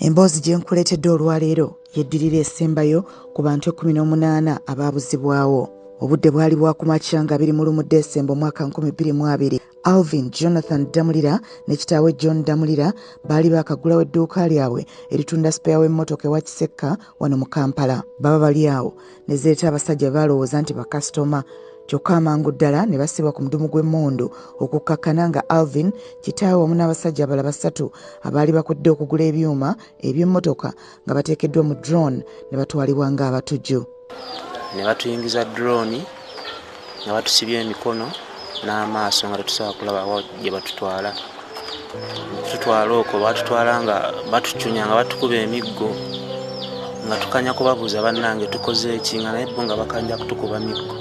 emboozi gye nkuleetedde olwaleero yeddirira esembayo ku bantu ekkumi n'omunaana abaabuzibwawo obudde bwali bwakumakya nga biri mu lumu desemba omwaka 22 alvin jonathan damulira ne kitaawe john damulira baali baakaggulawo edduuka lyabwe eritunda sipeya w'emmotoka ewa kisekka wano mu kampala baba bali awo ne zireeta abasajja be balowooza nti bakasitoma kyokka amangu ddala ne basibwa ku mudumu gw'emmundu okukkakkana nga alvin kitaawe wamu n'abasajja abala basatu abaali bakudde okugula ebyuma eby'emmotoka nga bateekeddwa mu drone ne batwalibwa ng'abatujju ne batuyingiza drone nga batusibye emikono n'amaaso nga tetusobola kulaba wa gye batutwala tutwala okwo batutwala nga batucunya nga batukuba emiggo nga tukanya kubabuuza bannange tukoze eki nga naye bo nga bakanja kutukuba miggo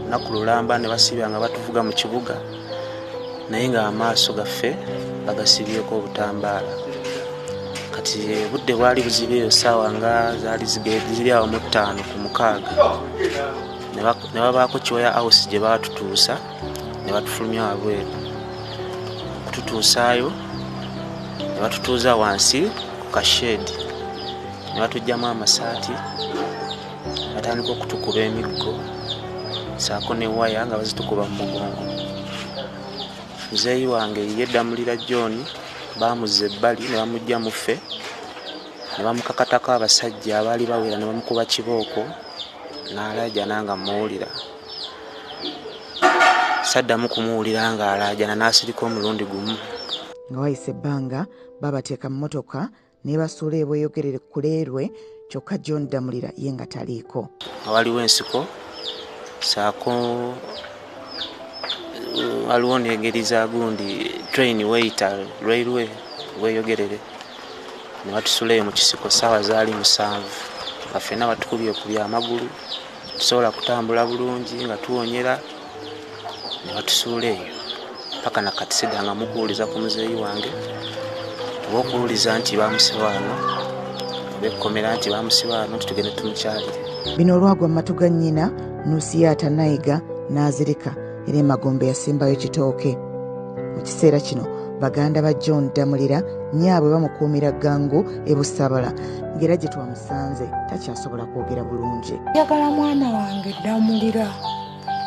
naku lulamba ne basibya nga batuvuga mu kibuga naye nga amaaso gaffe bagasibyeko obutambaala kati budde bwali buziba eyo saawa nga zali ziri awo mu ttaano ku mukaaga ne babaako kyoya house gye baatutuusa ne batufulumya wabweru okututuusaayo ne batutuuza wansi ku kasheedi ne batugyamu amasaati batandika okutukuba emiggo saako ne waya nga bazitukuba mu mugongo muzeeyi wange ye ddamulira john baamuzza ebbali ne bamugya muffe ne bamukakatako abasajja abaali bawera ne bamukuba kibooko n'alaajana nga mmuwulira saddamu kumuwulira ng'alaajana n'asirika omulundi gumu nga wayise ebbanga babateeka mu motoka nebasuula ebweyogerere kuleerwe kyokka john damulira ye nga taliiko waliwo ensiko saako waliwo nengeri za gundi train weyita railway weyogerere nebatusula eyo mukisiko saawa zaali musanvu nga fena batukubye kubya amagulu tusobola kutambula bulungi nga tuwonyera nebatusuula eyo paka nakatiseda nga mukuwuliza ku muzeeyi wange oba okuwuliza nti bamusiba ano oba ekkomera nti bamusiba ano titugende tumukyalire bino olwagwa mu matu ga nnyina nusiyaata nayiga n'azirika era emagombe yasimbayo kitooke mu kiseera kino baganda ba john damulira nyaabwe bamukuumira gangu ebusabala ng'era gye twamusanze takyasobola kwogera bulungi njagala mwana wange damulira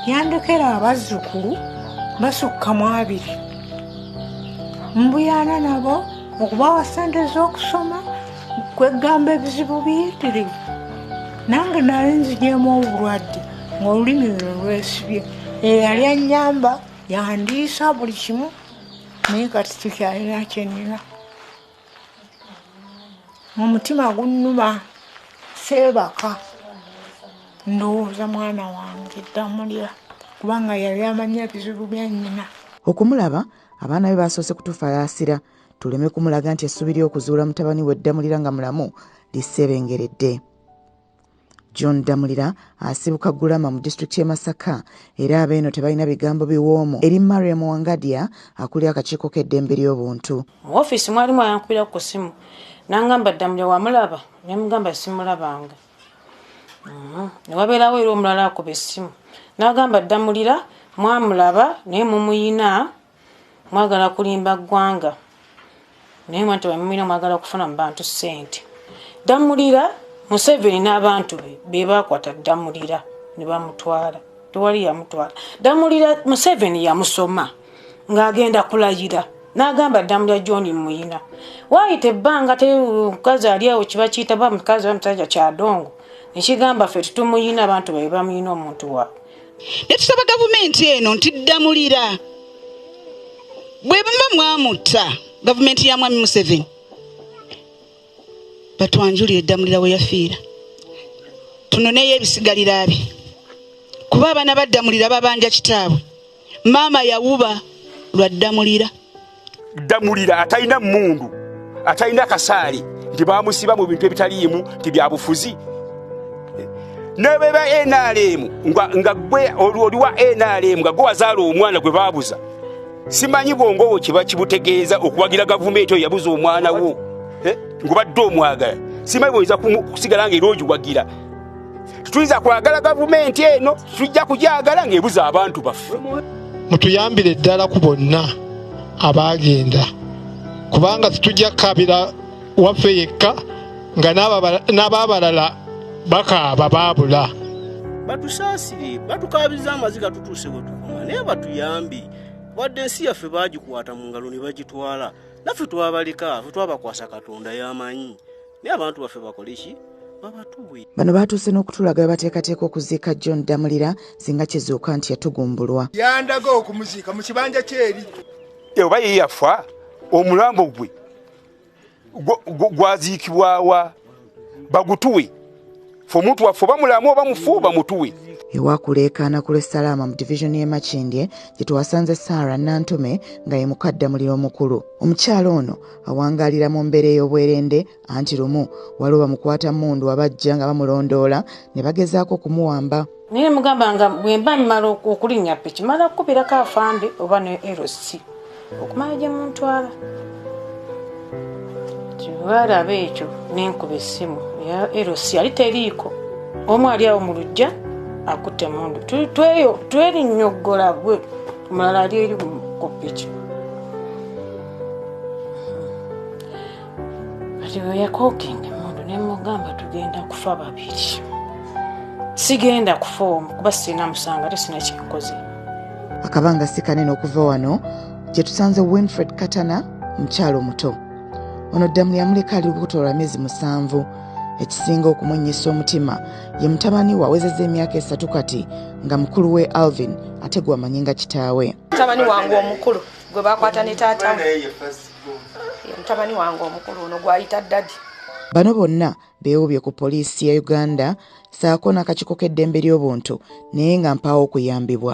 yandekera abazzukulu basukka mu abiri mbuyaana nabo okubawa ssente z'okusoma kweggamba ebizibu biyitirivu nange nali nzigyemu obulwadde ng'olulimi luno lwesibye eyali anyamba yandiisa buli kimu naye kati tukyalina kyenina omutima gunnuma seebaka ndowooza mwana wange ddamulya kubanga yali amanya ebizibu bya nnyina okumulaba abaana be baasoose kutufalaasira tuleme kumulaga nti essuubi ly'okuzuula mutabani we ddamulira nga mulamu liseebengeredde john ddamulira asibuka gulama mu disitulikiti y'e masaka era abeeno tebalina bigambo biwoomu eri mariam wangadia akuli akakiiko k'eddembe ly'obuntu mu ofiisi mwalimu ayankubira ku simu nangamba ddamulira wamulaba nemugamba simulabanga mhm. newabeerawo era omulala akuba essimu nagamba ddamulira mwamulaba naye mumuyina Mwagala kulimba ggwanga naye mwante bamumina mwagala kufuna mu bantu ssente. Ddamulira Museveni n'abantu be be baakwata Ddamulira ne bamutwala tewali yamutwala. Ddamulira Museveni yamusoma ng'agenda kulayira n'agamba Ddamulira John Muyina waayita ebbanga te mukazi ali awo kiba kiyita ba mukazi ba musajja kyadongo ne kigamba ffe tetumuyina abantu be bamuyina omuntu waabwe. netusaba gavumenti eno nti ddamulira bwe buma mwamutta gavumenti ya mwami museveni batwanjulire eddamulira we yafiira tunoneyo ebisigalira bye kuba abaana baddamulira babanja kitaabwe maama yawuba lwa ddamulira ddamulira atalina mmundu atalina kasaali nti bamusiba mu bintu ebitaliimu nti byabufuzi nebeba nrm nga gwe oli wa nrm nga gwe wazaala omwana gwe babuza simanyi bwongowo kiba kibutegeeza okuwagira gavumenti oyo yabuza omwana wo eh, ngubadde omwagala simanyi bwoyinza kusigala nga era ogiwagira tetuyinza kwagala gavumenti eno tujja kugyagala ng'ebuza abantu baffe mutuyambire ddala ku bonna abaagenda kubanga tetujja kukabira waffe yekka nga n'abaabalala bakaaba baabula batusaasire batukaabiriza amaziga tutuuse bwe tukuma naye batuyambi wadde ensi yaffe baagikwata mu ngalo ne bagitwala naffe twabaleka fe twabakwasa katonda y'amanyi naye abantu baffe bakoleki babatuwe bano baatuuse n'okutulaga we bateekateeka okuziika john damulira singa kizuuka nti yatugumbulwa yandaga okumuziika mu kibanja kyeri oba ye yafa omulambo gwe gwaziikibwawa bagutuwe fe omuntu waffe oba mulamu oba mufu bamutuwe ewakuleekaana ku lwessalaama mu divizoni y'e makindye gye twasanze saara nantume nga ye mukaddamuliro omukulu omukyala ono awangaalira mu mbeera ey'obwerende anti lumu waliwo bamukwata mundu abajja nga bamulondoola ne bagezaako okumuwamba naye mugamba nga bwemba mmala okulinnya piki mala kukubirako afande oba ne lc okumala gye muntwala tibalaba ekyo nenkuba essimu ya lc ali teriiko omu ali awo mu lujja akutte mundu twerinyoggola gwe omulala ali eri ku piki kati bwe yakokinga emundu ne mugamba tugenda kufa babiri sigenda kufa omu kuba sirina musango ate sirina kyenkoze akabanga si kanene okuva wano gye tusanze winfred katana mukyalo omuto ono ddamu yamuleka ali lubuto lwa myezi musanvu ekisinga okumunnyisa omutima ye mutabani we awezeza emyaka esatu kati nga mukulu we alvin ate gwewamanyi nga kitaawe mutabani wange omukulu gwe bakwata ne taatawe ye mutabani wange omukulu ono gwayita dadi bano bonna beewubye ku poliisi ya uganda saako n'akakiiko k'eddembe ly'obuntu naye nga mpaawo okuyambibwa